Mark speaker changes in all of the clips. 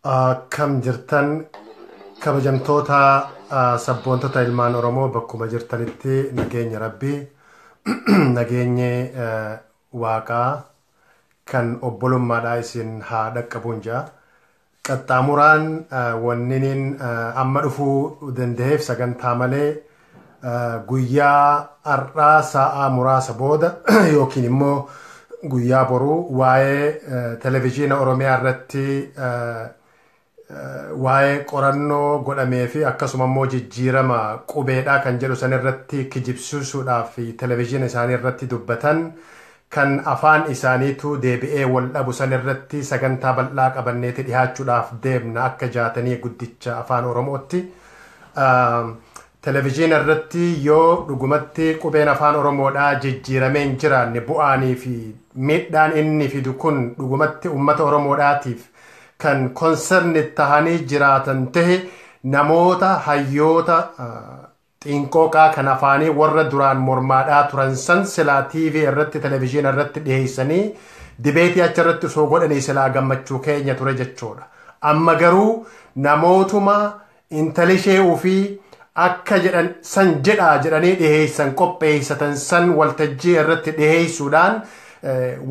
Speaker 1: Akkam jirtan kabajamtoota ah, sabboontota ilmaan Oromoo bakkuma jirtanitti nageenya rabbii nageenyi eh, waaqaa kan obbolummaadhaa isin haa dhaqqabuun ja'a. Qaxxaamuraan ah, wanniniin ah, amma dhufuu danda'eef sagantaa malee guyyaa har'aa saa'aa muraasa booda yookiin immoo guyyaa boruu waa'ee televezyiina Oromiyaa irratti waa'ee qorannoo godhamee fi akkasuma immoo jijjiirama qubeedhaa kan jedhu san irratti kijibsiisuudhaaf televezyiina isaanii irratti dubbatan kan afaan isaaniitu deebi'ee wal dhabu san irratti sagantaa bal'aa qabanneeti dhihaachuudhaaf deemna akka jaatanii guddicha afaan oromootti televijiina irratti yoo dhugumatti qubeen afaan oromoodhaa jijjiiramee hin jiraanne bu'aanii fi miidhaan inni fidu kun dhugumatti ummata oromoodhaatiif kan konserni tahanii jiraatan tahe namoota hayyoota Xiinqooqaa kan afaanii warra duraan mormaadhaa turan san silaa TV irratti television irratti dhiheessanii dibeetii achi irratti osoo godhanii silaa gammachuu keenya ture jechuudha. Amma garuu namootuma intalishee ufii akka jedhan san jedhaa jedhanii dhiheessan qopheessatan san waltajjii irratti dhiheessuudhaan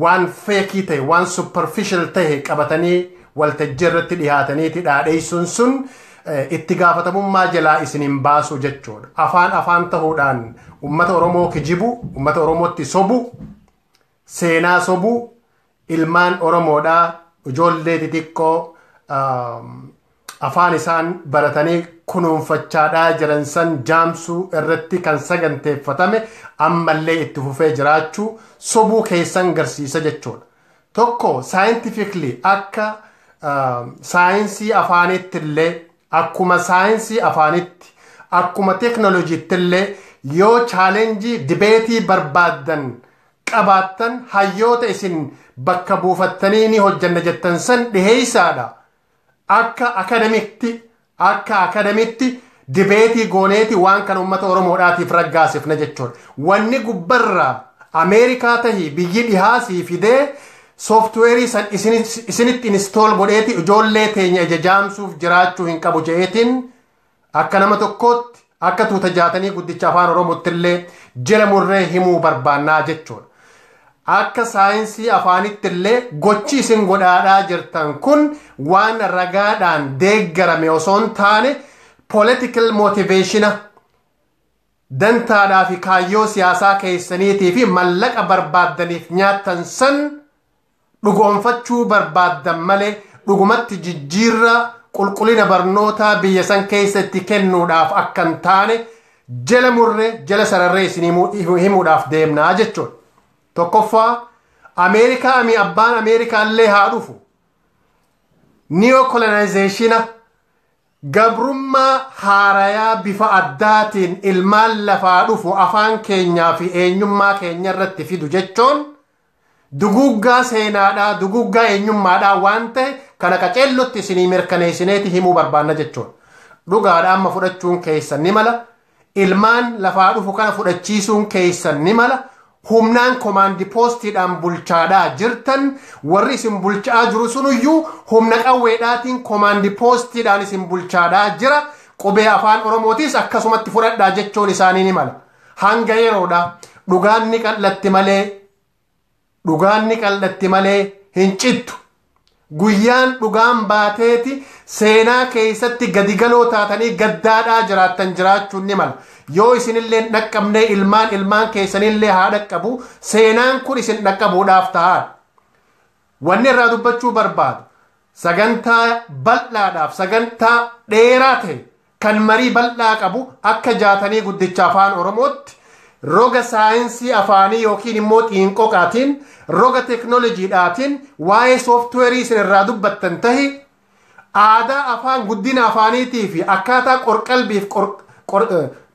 Speaker 1: waan feekii ta'e waan superficial ta'e qabatanii waltajjii irratti dhihaataniiti dhaadheessuun sun itti gaafatamummaa jalaa isin hin baasu jechuudha. Afaan afaan ta'uudhaan uummata Oromoo kijibu, uummata Oromootti sobu, seenaa sobu, ilmaan Oromoodhaa ijoollee xixiqqoo afaan isaan baratanii kunuunfachaadhaa jiran san jaamsuu irratti kan saganteeffatame ammallee itti fufee jiraachuu sobuu keessan garsiisa jechuudha. Tokko scientifically akka saayinsii afaaniitti illee akkuma saayinsii afaanitti akkuma teknolojiitti illee yoo chaalenjii dibeetii barbaaddan qabaattan hayyoota isin bakka buufattanii ni hojjanna jettan san dhiheeysaadha Akka akadamitti akka akadamitti dibeetii gooneeti waan kana uummata Oromoodhaatiif raggaasifna jechuudha. Wanni gubbarraa Ameerikaa tahi biyyi dhihaa sii fidee sooftiweerii san isinitti inistool godheeti ijoollee teenya ija jaamsuuf jiraachuu hin qabu je'eetiin Akka nama tokkootti, akka tuuta jaatanii guddicha Afaan Oromootti illee jila murree himuu barbaannaa jechuudha. Akka saayinsii afaanitti illee gochi isin godhaadhaa jirtan kun waan ragaadhaan deeggarame osoo hin taane political motivationa dantaadhaa fi kaayyoo siyaasaa keessaniitii fi mallaqa barbaaddaniif nyaattan san dhugoomfachuu barbaaddan malee dhugumatti jijjiirraa qulqulina barnootaa biyya san keessa itti kennuudhaaf akka hin taane jala murree jala sararree isin himuudhaaf deemnaa jechuun tokkoffaa ameerikaa ami abbaan ameerikaa illee haa dhufu niyokolonaayizeeshina gabrummaa haarayaa bifa addaatiin ilmaan lafaa dhufu afaan keenyaa fi eenyummaa keenya irratti fidu jechuun Duguuggaa seenaadhaa, duguuggaa eenyummaadhaa waan ta'e kana qaceellotti isinii mirkaneessineeti himuu barbaanna jechuudha. Dhugaadha amma fudhachuun keessan ni mala, ilmaan lafaa dhufu kana fudhachiisuun keessan ni mala, humnaan komaandi poostiidhaan bulchaadhaa jirtan, warri isin bulchaa jiru sunuyyuu humna qawweedhaatiin komaandi poostiidhaan isin bulchaadhaa jira, qubee afaan Oromootiis akkasumatti fudhadhaa jechuun isaanii ni mala. Hanga yeroodha. Dhugaan ni qal'atti malee dhugaan ni qal'atti malee hin cittu. Guyyaan dhugaan baateeti seenaa keessatti gadigaloo taatanii gaddaadhaa jiraattan jiraachuun ni mala. Yoo isinillee hin dhaqqabnee ilmaan ilmaan keessanillee haa dhaqqabu seenaan kun isin dhaqqabuudhaaf ta'aadha. Wanni irraa dubbachuu barbaadu sagantaa bal'aadhaaf sagantaa dheeraa ta'e kan marii bal'aa qabu akka Jaatanii Guddicha Afaan Oromootti roga saayinsii afaanii yookiin immoo xiinqoqaatiin, roga teknolojiidhaatiin waa'ee sooftiweerii isin irraa dubbattan tahi, aadaa afaan guddina afaaniitii fi akkaataa qorqalbiif qor, qor,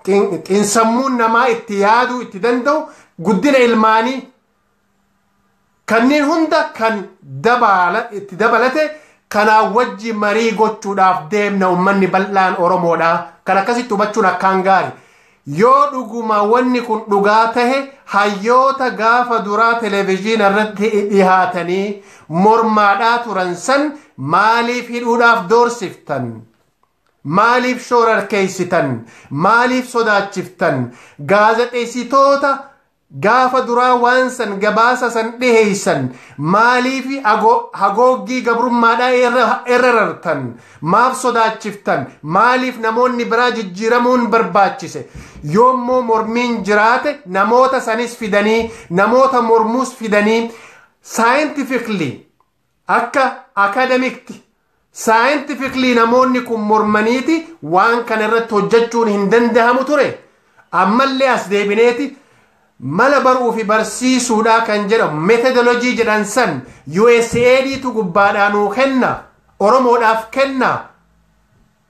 Speaker 1: xin, xinsammuun namaa itti yaaduu itti danda'u guddina ilmaanii Kanneen hunda kan dabaala, itti dabalate kanaa wajji marii gochuudhaaf deemna ummanni bal'aan Oromoodha. Kan akkasitti hubachuun akkaan gaari. Yoo dhuguma wanni kun dhugaa tahe hayyoota gaafa duraa televizyina irratti dhihaatanii mormaadhaa turan san maaliif hidhuudhaaf doorsiftan? Maaliif shoorarkeeysitan? Maaliif sodaachiftan? Gaazexeessitoota Gaafa duraa waan san gabaasa san dhiheeysan maaliifi hagooggii gabrummaadhaa irra rartan? Maaf sodaachiftan? Maaliif namoonni biraa jijjiiramuun barbaachise? Yoommoo mormiin jiraate namoota sanis fidanii, namoota mormuus fidanii scientifically Akka akadamikti, saayintifikli namoonni kun mormaniiti waan kana irratti hojjachuun hin dandahamu ture. Ammallee as deebineeti mala baruu fi barsiisuudhaa kan jedhamu methodology jedhan san USAID tu gubbaadhaa nuu kenna, Oromoodhaaf kenna,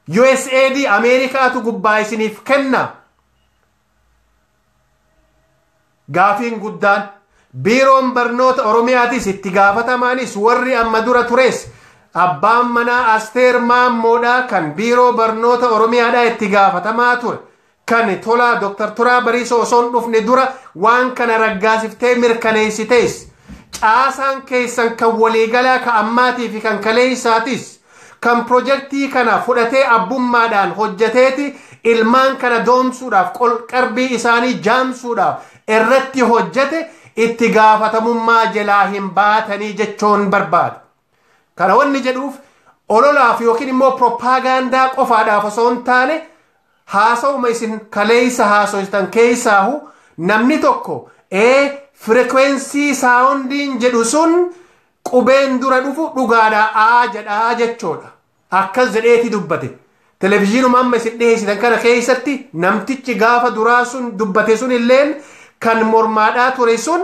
Speaker 1: USAID Ameerikaatu gubbaa isiniif kenna, Gaafiin guddaan biiroon barnoota Oromiyaatis itti gaafatamaanis warri amma dura tures abbaan manaa Asteer Maammoodhaa kan biiroo barnoota Oromiyaadhaa itti gaafatamaa ture kan tolaa Dr. Turaa Bariisoo osoo hin dhufne dura waan kana raggaasiftee mirkaneessitees caasaan keessan kan waliigalaa ka ammaatii fi kan kaleessaatis Kan pirojektii kana fudhatee abbummaadhaan hojjeteeti ilmaan kana doomsuudhaaf, qol-qarbii isaanii jaamsuudhaaf irratti hojjete itti gaafatamummaa jelaa hin baatanii jechuun barbaada. Kana wanni jedhuuf ololaaf yookiin immoo piroppaagaandaa qofaadhaaf osoo hin taane haasawuma isin kaleessa haasoytan keessaahu namni tokko ee firikweensii saawundiin jedhu sun Qubeen dura dhufu dhugaadha A jedha jechoodha. Akkas jedheeti dubbate. Televizhiinuma amma isin dhiheessitan kana keessatti namtichi gaafa duraa sun dubbate sun illeen kan mormaadhaa ture sun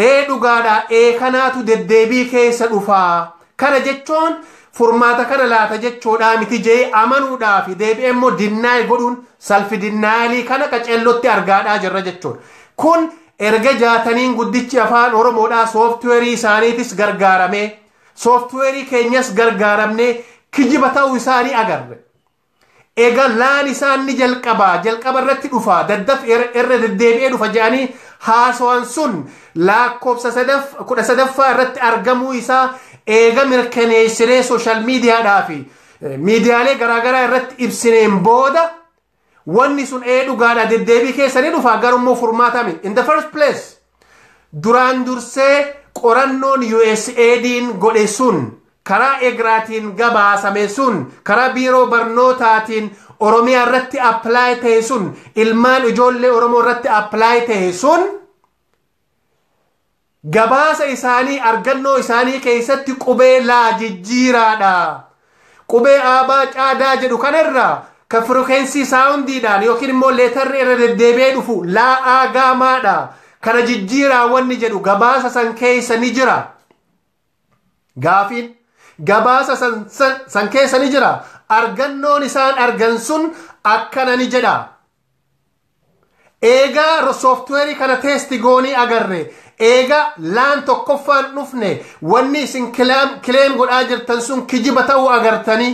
Speaker 1: ee dhugaadha ee kanaatu deddeebii keessa dhufaa. Kana jechoon furmaata kana laata jechoodhaa miti jee amanuudhaa fi deebi'ee immoo dinnaay godhuun salfi dinnaayalii kana qaceellotti argaadhaa jirra jechoodha. Kun Erga Jaataniin Guddichi Afaan Oromoodhaa sooftiweerii isaaniitis gargaaramee, sooftiweerii keenyas gargaaramnee kijiba ta'uu isaa ni agarre. Ega laan isaan ni jalqaba, jalqaba irratti dhufa, daddaf irra deddeebi'ee dhufa jedhanii haasawan sun laakkofsa sadaf, kudha sadaffaa irratti argamuu isaa eega mirkaneessinee sooshaal miidiyaadhaa fi miidiyaalee garaagaraa irratti ibsineen booda Wanni sun ee dhugaadha deddeebii keessa ni dhufa garummoo furmaata miti. In the first place duraan dursee qorannoon USAID'n godhe sun karaa egraatiin gabaasame sun karaa biiroo barnootaatiin Oromiyaa irratti apply ta'e sun ilmaan ijoollee Oromoo irratti apply ta'e sun gabaasa isaanii argannoo isaanii keessatti qubee laa jijjiiraadha. Qubee aabaa caadaa jedhu kanarraa ka firokensii saawundiidhaan yookiin immoo leetarri irra deddeebi'ee dhufu laa aagaamaadha. Kana jijjiiraa wanni jedhu gabaasa san keessa ni jira. Gaafiin gabaasa san, san, san keessa ni jira. Argannoon isaan argan sun akkana ni jedha. eegaa sooftiweerii kana teesti goonee agarre eegaa laan tokkoffaan dhufne wanni isin kileem godhaa jirtan sun kijiba ta'uu agartanii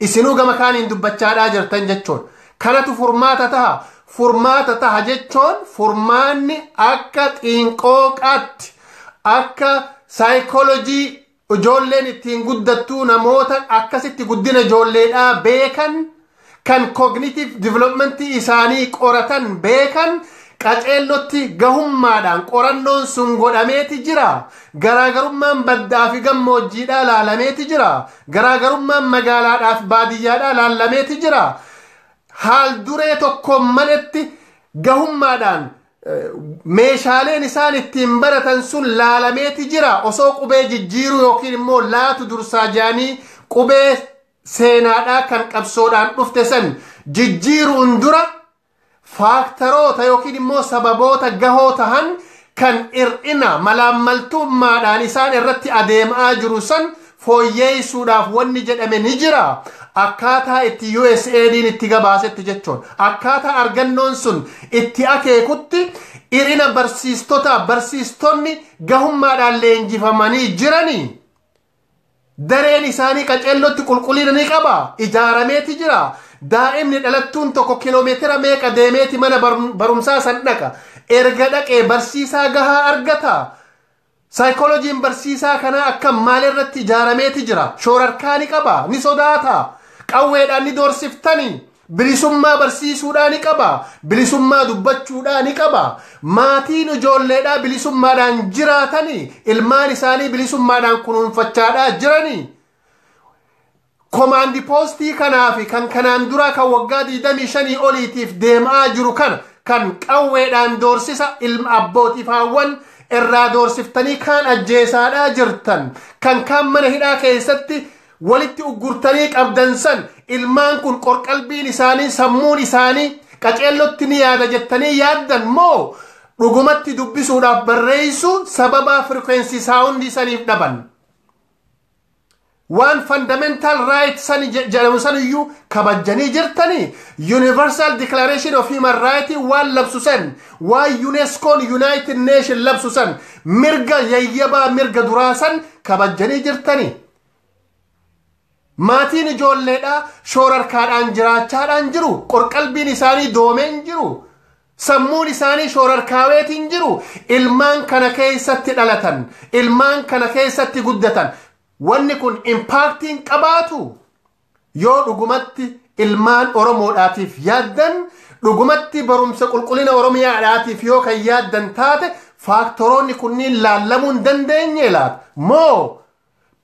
Speaker 1: isinuu gama kaaniin dubbachaadhaa jirtan jechuun kanatu furmaata taha furmaata taha jechuun furmaanni akka xiinqooqaatti akka saayikoolojii Ijoolleen ittiin guddattuu namoota akkasitti guddina ijoolleedhaa beekan kan cognitive development isaanii qoratan beekan qaceellotti gahummaadhaan qorannoon sun godhameeti jira. Garaagarummaan baddaa fi gammoojjiidhaa laalameeti jira. Garaagarummaan magaalaadhaa fi baadiyyaadhaa laalameeti jira. Haal duree tokkoon maletti gahummaadhaan meeshaaleen isaan ittiin baratan sun laalameeti jira osoo qubee jijjiiruu yookiin immoo laatu dursaa jaanii qubee seenaadhaa kan qabsoodhaan dhufte san jijjiiruun dura faaktaroota yookiin immoo sababoota gahoo tahan kan ir'ina malaammaltummaadhaan isaan irratti adeemaa jiru san fooyyeessuudhaaf wanni jedhame ni jira akkaataa itti USAID'n itti gabaasetti jechuun akkaataa argannoon sun itti akeekutti irina barsiistotaa barsiistonni gahummaadhaan leenjifamanii jiranii dareen isaanii qaceellotti qulqullina ni qaba ijaarameeti jira daa'imni dhalattuun tokko kiloomeetira meeqa deemeeti mana barumsaa san dhaqa erga dhaqee barsiisaa gahaa argata Saayikoolojiin barsiisaa kanaa akkam? Maal irratti ijaarameeti jira? Shoorarkaa ni qabaa? Ni sodaataa? Qawweedhaan ni doorsiftanii? Bilisummaa barsiisuudhaa ni qabaa? Bilisummaa dubbachuudhaa ni qabaa? Maatiin ijoolleedhaa bilisummaadhaan jiraatanii? Ilmaan isaanii bilisummaadhaan kunuunfachaadhaa jiranii? Komaandi poostii kanaa fi kan kanaan duraa kan waggaa 25 oliitiif deem'aa jiru kana kan qawweedhaan doorsisa ilma abbootiif haawwan irraa doorsiftanii kaan ajjeesaadhaa jirtan kan kaan mana hidhaa keessatti walitti uggurtanii qabdan san ilmaan kun qorqalbiin isaanii sammuun isaanii qaceellotti ni yaada jettanii yaaddan moo dhugumatti dubbisuudhaaf barreessuu sababaa firkweensii saawundii saniif dhaban. Waan fundamental right sani je- jedhamu san iyyuu kabajjanii jirtanii Universal Declaration of Human Right waan labsu san waan UNESCO'n United Nation labsu san mirga yayyabaa mirga duraa san kabajjanii jirtanii. Maatiin ijoolleedhaa shoorarkaadhaan jiraachaadhaan jiru. Qorqalbiin isaanii doomeen jiru. Sammuun isaanii shoorarkaaweetiin jiru ilmaan kana keessatti dhalatan, ilmaan kana keessatti guddatan. Wanni kun impaaktiin qabaatu yoo dhugumatti ilmaan Oromoodhaatiif yaaddan, dhugumatti barumsa qulqullina Oromiyaadhaatiif yoo kan yaaddan taate faaktoroonni kunniin laallamuu hin dandeenyee laata? Moo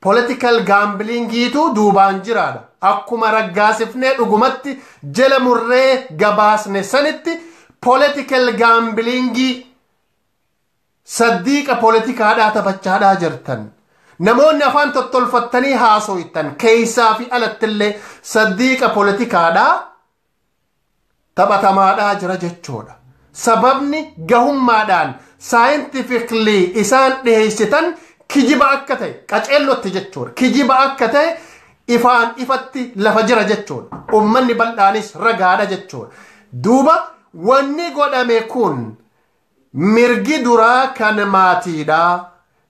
Speaker 1: Political gaambiliingiitu duubaan jiraadha. Akkuma raggaasifnee dhugumatti jala murree gabaasne sanitti political gaambiliingii saddiiqa politikaadhaa taphachaadhaa jirtan. Namoonni afaan tottolfattanii haasoytan keessaa fi alattillee saddiiqa politikaadhaa taphatamaadhaa jira jechoodha. Sababni gahummaadhaan saayintifikli isaan dhiheessitan kijiba akka ta'e qaceellotti jechuudha. Kijiba akka ta'e ifaan ifatti lafa jira jechuudha. Uummanni bal'aanis ragaadha jechuudha. Duuba wanni godhame kun Mirgi duraa kan maatiidha.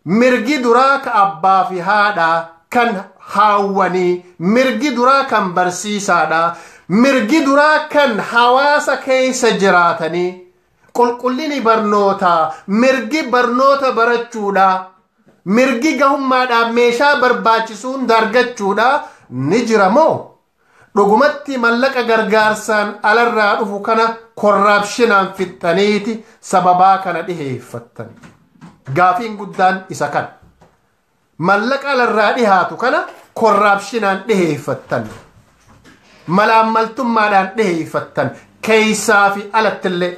Speaker 1: Mirgi duraa ka abbaa fi haadha, kan haawwanii, mirgi duraa kan barsiisaadha. Mirgi duraa kan hawaasa keessa jiraatanii. Qulqullini barnootaa, mirgi barnoota barachuudha. Mirgi gahummaadhaan meeshaa barbaachisuun argachuudha ni jira moo? Dhugumatti mallaqa gargaarsaan alarraa dhufu kana korraapshinaan fixxaniiti sababaa kana dhiheeffattan. Gaafiin guddaan isa kana. Mallaqa alarraa dhihaatu kana korraapshinaan dhiheeffattan. Malaammaltummaadhaan dhiheeffattan. Keeysaa fi alattillee.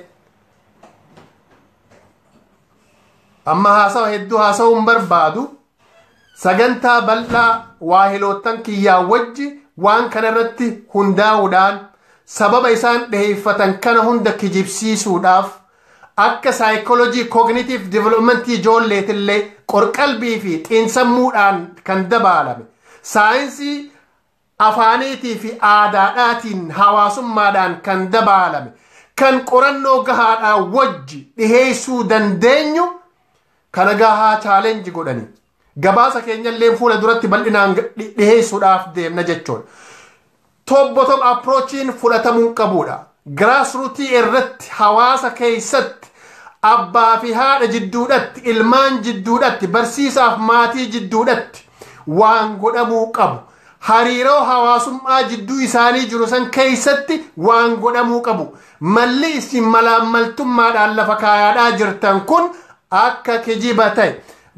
Speaker 1: Amma haasawa hedduu haasawuun barbaadu Sagantaa bal'aa waahiloottan kiyyaa wajji waan kana irratti hundaa'uudhaan sababa isaan dhiheeffatan kana hunda kijibsiisuudhaaf akka saayikoolojii koogniitiiv diviloopimentii ijoolleetillee qorqalbii fi xiinsammuudhaan kan dabaalame saayinsii afaaniitii fi aadaadhaatiin hawaasummaadhaan kan dabaalame kan qorannoo gahaadhaa wajji dhiheessuu dandeenyu kana gahaa challenge godhanii gabaasa keenyalleen fuula duratti bal'inaan dhiheessuudhaaf deemna jechuudha. Tobbotom approachiin fudhatamuu qabuudha. Grassrootii irratti, hawaasa keessatti, abbaa fi haadha jidduudhatti, ilmaan jidduudhatti, barsiisaaf maatii jidduudhatti waan godhamuu qabu, hariiroo hawaasummaa jidduu isaanii jiru san keessatti waan godhamuu qabu, malli isin malaammaltummaadhaan lafa kaayaadhaa jirtan kun akka kijiba ta'e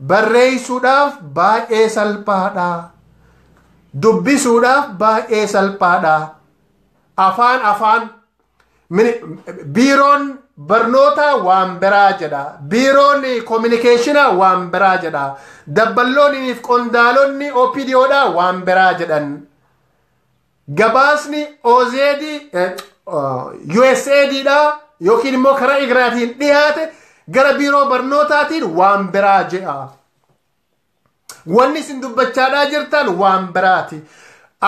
Speaker 1: barreessuudhaaf baay'ee salphaadha. Dubbisuudhaaf baay'ee salphaadha. afaan afaan mini- biiroon barnootaa waan biraa jedha biiroon koominikeeshinaa waan biraa jedha dabballoonni fi qondaalonni opdodha waan biraa jedhan gabaasni OZD eh, oh, USAID dha yookiin immoo karaa igraatiin dhiyaate gara biiroo barnootaatiin waan biraa jedha Wanni isin dubbachaadhaa jirtan waan biraati.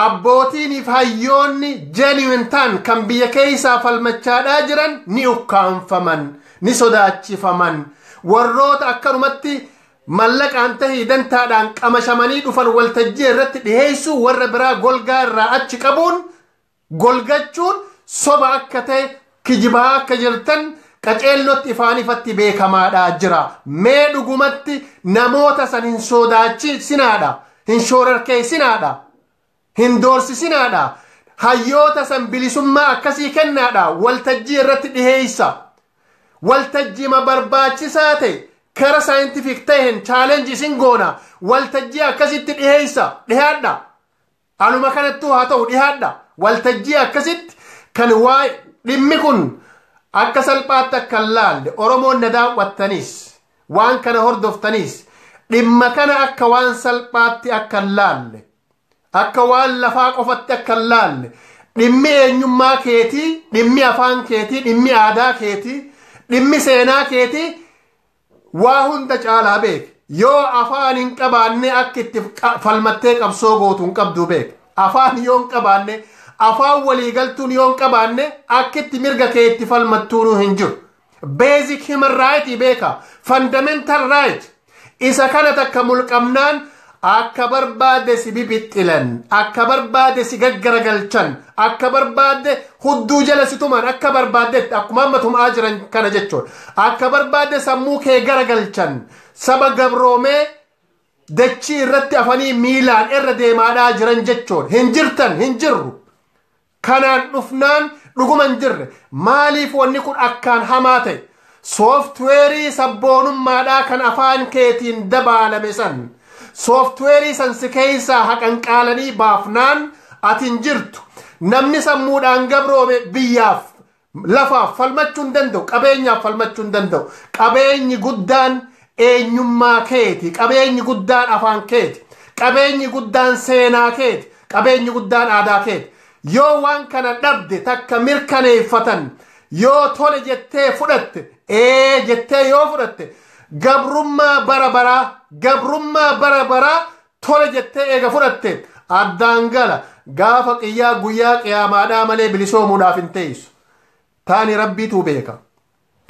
Speaker 1: Abbootiiniif hayyoonni genuine ta'an kan biyya keessaa falmachaadhaa jiran ni ukkaamfaman, ni sodaachifaman. Warroota akkanumatti mallaqaan tahii dantaadhaan qamashamanii dhufan waltajjii irratti dhiheessuu warra biraa golgaa irraa achi qabuun golgachuun soba akka ta'e kijibaa akka jirtan qaceellotti ifaan ifatti beekamaadha jira mee dhugumatti namoota san hin sodaachisinaadha hin shoorarkeessinaadha hin doorsisinaadha hayyoota san bilisummaa akkasii kennaadha waltajjii irratti dhiheessa waltajjima barbaachisaa ta'e kara saayintifik ta'een chaalenji isin goona waltajjii akkasitti dhiheessa dhihaadha Haaluma kanattuu haa ta'u dhihaadha waltajjii akkasitti kan waa dhimmi kun akka salphaatti akka hin laalle Oromoon na daawwattanis waan kana hordoftanis dhimma kana akka waan salphaatti akka hin laalle akka waan lafaa qofatti akka hin laalle dhimmi eenyummaa keetii dhimmi afaan keetii dhimmi aadaa keetii dhimmi seenaa keetii waa hunda caalaa beeki yoo afaan hin qabaanne akka itti falmattee qabsoo gootu hin qabdu beeki afaan yoo hin qabaanne afaan walii galtuun yoo hin qabaanne akka itti mirga kee itti falmattuunuu hin jiru basic human right beeka fundamental right isa kana takka mulqamnaan Akka barbaade si bibixxilan, akka barbaade si gaggaragalchan, akka barbaadde hudduu jala si tuman, akka barbaaddetti akkuma amma tum'aa jiran kana jechuudha. Akka barbaadde sammuu kee garagalchan, saba gabroomee dachii irratti afanii miilaan irra deemaadhaa jiran jechuudha. Hin jirtan, hin jirru. Kanaan dhufnaan dhuguma hin jirre. Maaliif wanni kun akkaan hamaa ta'e? Sooftiweerii sabboonummaadhaa kan afaan keetiin dabaalame san. Sooftiweerii san si keessaa haqanqaalanii baafnaan ati hin jirtu. Namni sammuudhaan gabroome biyyaaf Lafaaf falmachuu hin danda'u, qabeenyaaf falmachuu hin danda'u. Qabeenyi guddaan eenyummaa keeti, qabeenyi guddaan afaan keeti, qabeenyi guddaan seenaa keeti, qabeenyi guddaan aadaa keeti. Yoo waan kana dhabde takka mirkaneeffatan yoo tole jettee fudhatte, ee jettee yoo fudhatte, gabrummaa bara baraa, gabrummaa bara baraa tole jettee eega fudhatte addaan gala gaafa qiyyaa guyyaa qiyaamaadhaa malee bilisoomuudhaaf hin teessu taani rabbiitu beeka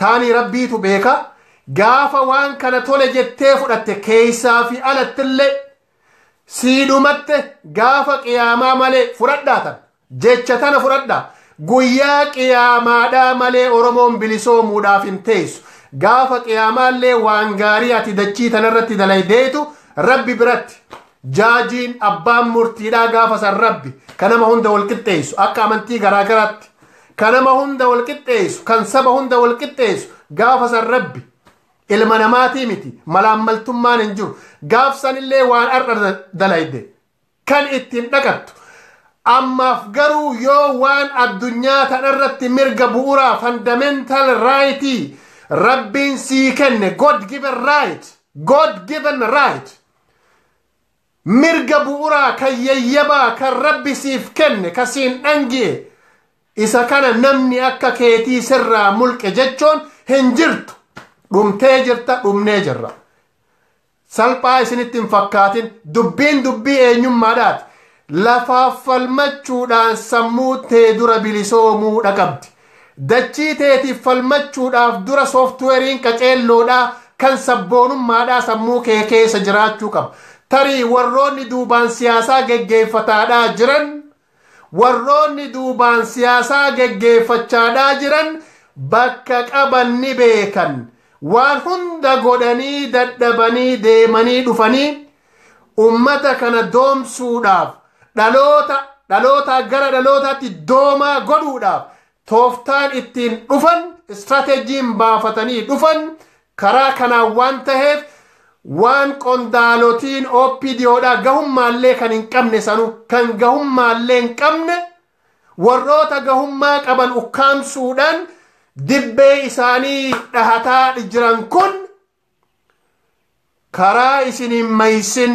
Speaker 1: taani rabbiitu beeka gaafa waan kana tole jettee fudhatte keeysaa fi alattillee siidhumatte gaafa qiyaamaa malee fudhadhaatan Jecha tana fudhadha. Guyyaa qiyaamaadhaa malee Oromoon bilisoomuudhaaf hin teessu. Gaafa qiyaamaallee waan gaarii ati dachii tanarratti dalaydeetu Rabbi biratti. Jaajiin abbaan murtiidhaa gaafa san Rabbi ka nama hunda wal qixxeessu akka amantii garaa garaatti. Ka nama hunda wal qixxeessu, kan saba hunda wal qixxeessu gaafa san Rabbi. Ilma namaatii miti. Malaammaltummaan hin jiru. Gaaf sanillee waan har'a dalayde. kan ittiin dhaqattu. Ammaaf garuu yoo waan addunyaa tanarratti mirga bu'uraa fundamental right rabbiin sii kenne God given right God given right mirga bu'uraa kan yayyabaa kan rabbi siif kenne ka siin dhangi'e isa kana namni akka keetii sirraa mulqe jechuun hin jirtu dhumtee jirta dhumnee jirra Salphaa isinitti hin fakkaatin. Dubbiin dubbii eenyummaadhaati. Lafaaf falmachuudhaan sammuu tee dura bilisoomuudha qabdi. Dachii teetiif falmachuudhaaf dura sooftiweeriin qaceelloodhaa kan sabboonummaadhaa sammuu kee keessa jiraachuu qaba. Tarii warroonni duubaan siyaasaa geggeeffataadhaa jiran Warroonni duubaan siyaasaa geggeeffachaadhaa jiran bakka qaban ni beekan. Waan hunda godhanii dadhabanii deemanii dhufanii ummata kana doomsuudhaaf dhaloota dhalootaa gara dhalootaatti doomaa godhuudhaaf tooftaan ittiin dhufan istirateejiin baafatanii dhufan Karaa kanaan waan taheef waan qondaalotiin OPDO dhaa gahummaallee kan hin qabne sanuu kan gahummaallee hin qabne warroota gahummaa qaban ukkaamsuudhaan dibbee isaanii dhahataa jiran kun karaa isin hin maysin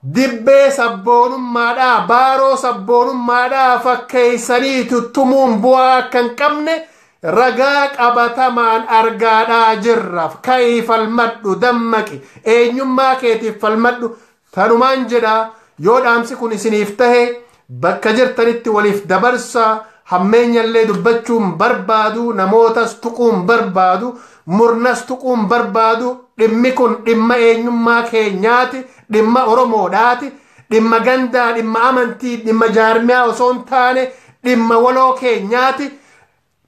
Speaker 1: Dibbee sabboonummaadhaa, baaroo sabboonummaadhaa fakkeessanii tuttumuun bu'aa akka hin qabne ragaa qabatamaan argaadhaa jirra. Ka'ii falmadhu, dammaqi, eenyummaa keetiif falmadhu. Tanumaan jedha, yoo dhaamsi kun isiniif tahe, Bakka jirtanitti waliif dabarsaa, hammeenyallee dubbachuun barbaadu, namootas tuquun barbaadu, murnas tuquun barbaadu, dhimmi kun dhimma eenyummaa keenyaati, dhimma Oromoodhaati, dhimma gandaa, dhimma amantii, dhimma jaarmiyaa osoo hin taane dhimma waloo keenyaati,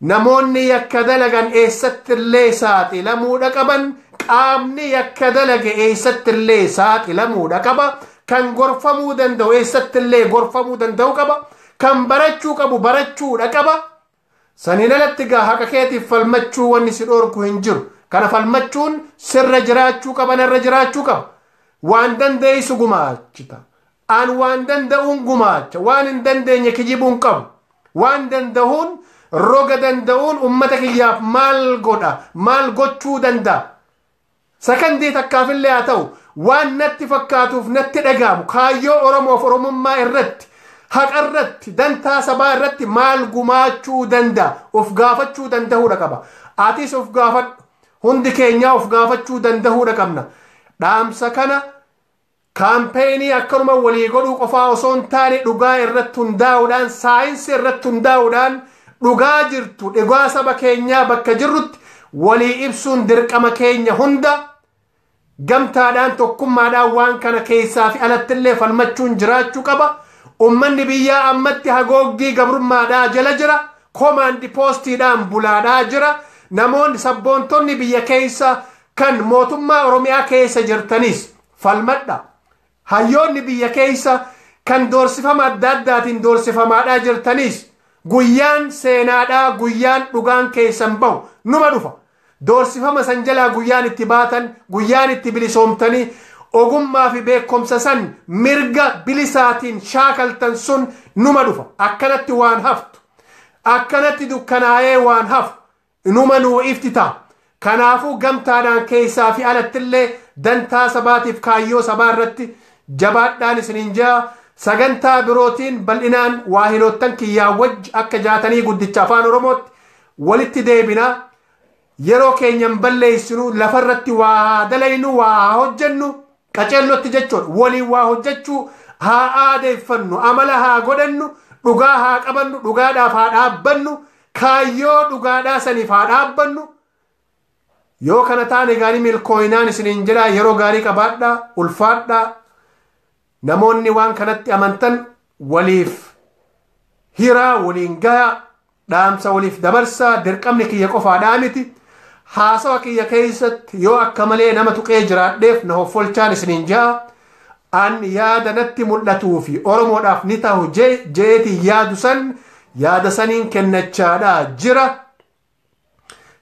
Speaker 1: Namoonni yakka dalagan eessattillee saaxilamuudha qaban, qaamni yakka dalage eessattillee saaxilamuudha qaba, kan gorfamuu danda'u eessattillee gorfamuu danda'u qaba, kan barachuu qabu barachuudha qaba. Saniin alatti gaa haqa keetiif falmachuu wanni si dhoorku hin jiru. Kana falmachuun sirra jiraachuu qaba, narra jiraachuu qaba. Waan dandeessu gumaachita. An waan danda'uun gumaacha. Waan hin dandeenye kijibuu hin qabu. Waan danda'uun roga danda'uun ummata kiyyaaf maal godha? Maal gochuu danda'a? Sakandii takkaafillee haa ta'u waan natti fakkaatuuf natti dhaga'amu kaayyoo Oromoof Oromummaa irratti haqa irratti dantaa sabaa irratti maal gumaachuu danda'a? Of gaafachuu danda'uudha qaba. Atis of gaafadhu. Hundi keenyaa of gaafachuu danda'uudha qabna. Dhaamsa kana Kaampeenii akkanuma walii godhuu qofaa osoo hin taane dhugaa irratti hundaa'uudhaan saayinsii irratti hundaa'uudhaan dhugaa jirtu dhugaa saba keenyaa bakka jirrutti walii ibsuun dirqama keenya hunda gamtaadhaan tokkummaadhaan waan kana keessaa fi alatti illee falmachuun jiraachuu qaba. Ummanni biyyaa ammatti hagooggii gabrummaadhaa jala jira. Komaandi poostiidhaan bulaadhaa jira. Namoonni sabboontonni biyya keessa Kan mootummaa Oromiyaa keessa jirtanis falmadha. Hayyoonni biyya keessa kan doorsifama adda addaatiin doorsifamaadhaa jirtanis guyyaan seenaadhaa guyyaan dhugaan keessan bahu numa dhufa. Doorsifama san jalaa guyyaan itti baatan guyyaan itti bilisoomtanii ogummaa fi beekumsa san mirga bilisaatiin shaakaltan sun numa dhufa. Akkanatti waan haftu. Akkanatti dukkanaa'ee waan hafu. Inuma nuu ifti ta'a. Kanaafuu gamtaadhaan keessaa fi alatti illee dantaa sabaatiif kaayyoo sabaa irratti jabaadhaan isiniin je'a. Sagantaa birootiin bal'inaan waahiloottan kiyyaa wajji akka jaatanii guddicha Afaan Oromootti walitti deebina. Yeroo keenya hin balleessinu lafa irratti waa haa dalaynu waa haa hojjennu qaceellotti jechuudha. Waliin waa hojjechuu haa aadeeffannu amala haa godhannu dhugaa haa qabannu dhugaadhaaf haa dhaabbannu Kaayyoo dhugaadhaa saniif haa dhaabbannu. Yoo kana taane gaarii milkooyinaan isiniin jedhaa yeroo gaarii qabaadhaa, ulfaadhaa. Namoonni waan kanatti amantan waliif hiraa, waliin gayaa, dhaamsa waliif dabarsaa, dirqamni kiyya qofaadhaa miti. Haasawa kiyya keessatti yoo akka malee nama tuqee jiraadheef na hoffolchaan isiniin ja'a. An yaada natti mul'atuu fi Oromoodhaaf ni tahu je'eetiin yaadu san yaada saniin kennachaadha jira.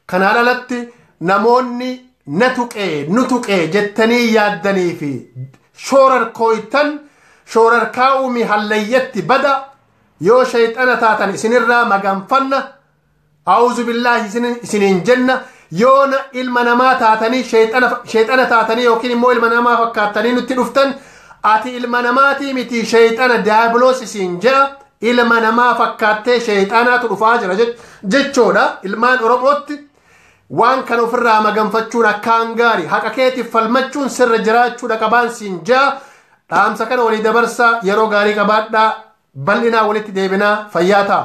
Speaker 1: Kanaan alatti namoonni na tuqee nu tuqee jettanii yaaddanii fi shoorarkooytan shoorarkaa'uu mi hallayyatti bada yoo shayxana taatan isinirraa maganfanna A'uuzu billaahi isin- isiniin jenna yoona ilma namaa taatanii sheexana sheexana taatanii yookiin immoo ilma namaa fakkaattanii nutti dhuftan ati ilma namaatii miti sheexana daabiloos isiin je'a ilma namaa fakkaattee sheexanaatu dhufaa jira jech- jechoodha ilmaan oromootti waan kan ofirraa maganfachuun akkaan gaari haqa keetiif falmachuun sirra jiraachuudha qabaan siin je'a dhaamsa kana walii dabarsaa yeroo gaarii qabaadhaa bal'inaa walitti deebinaa fayyaa ta'a.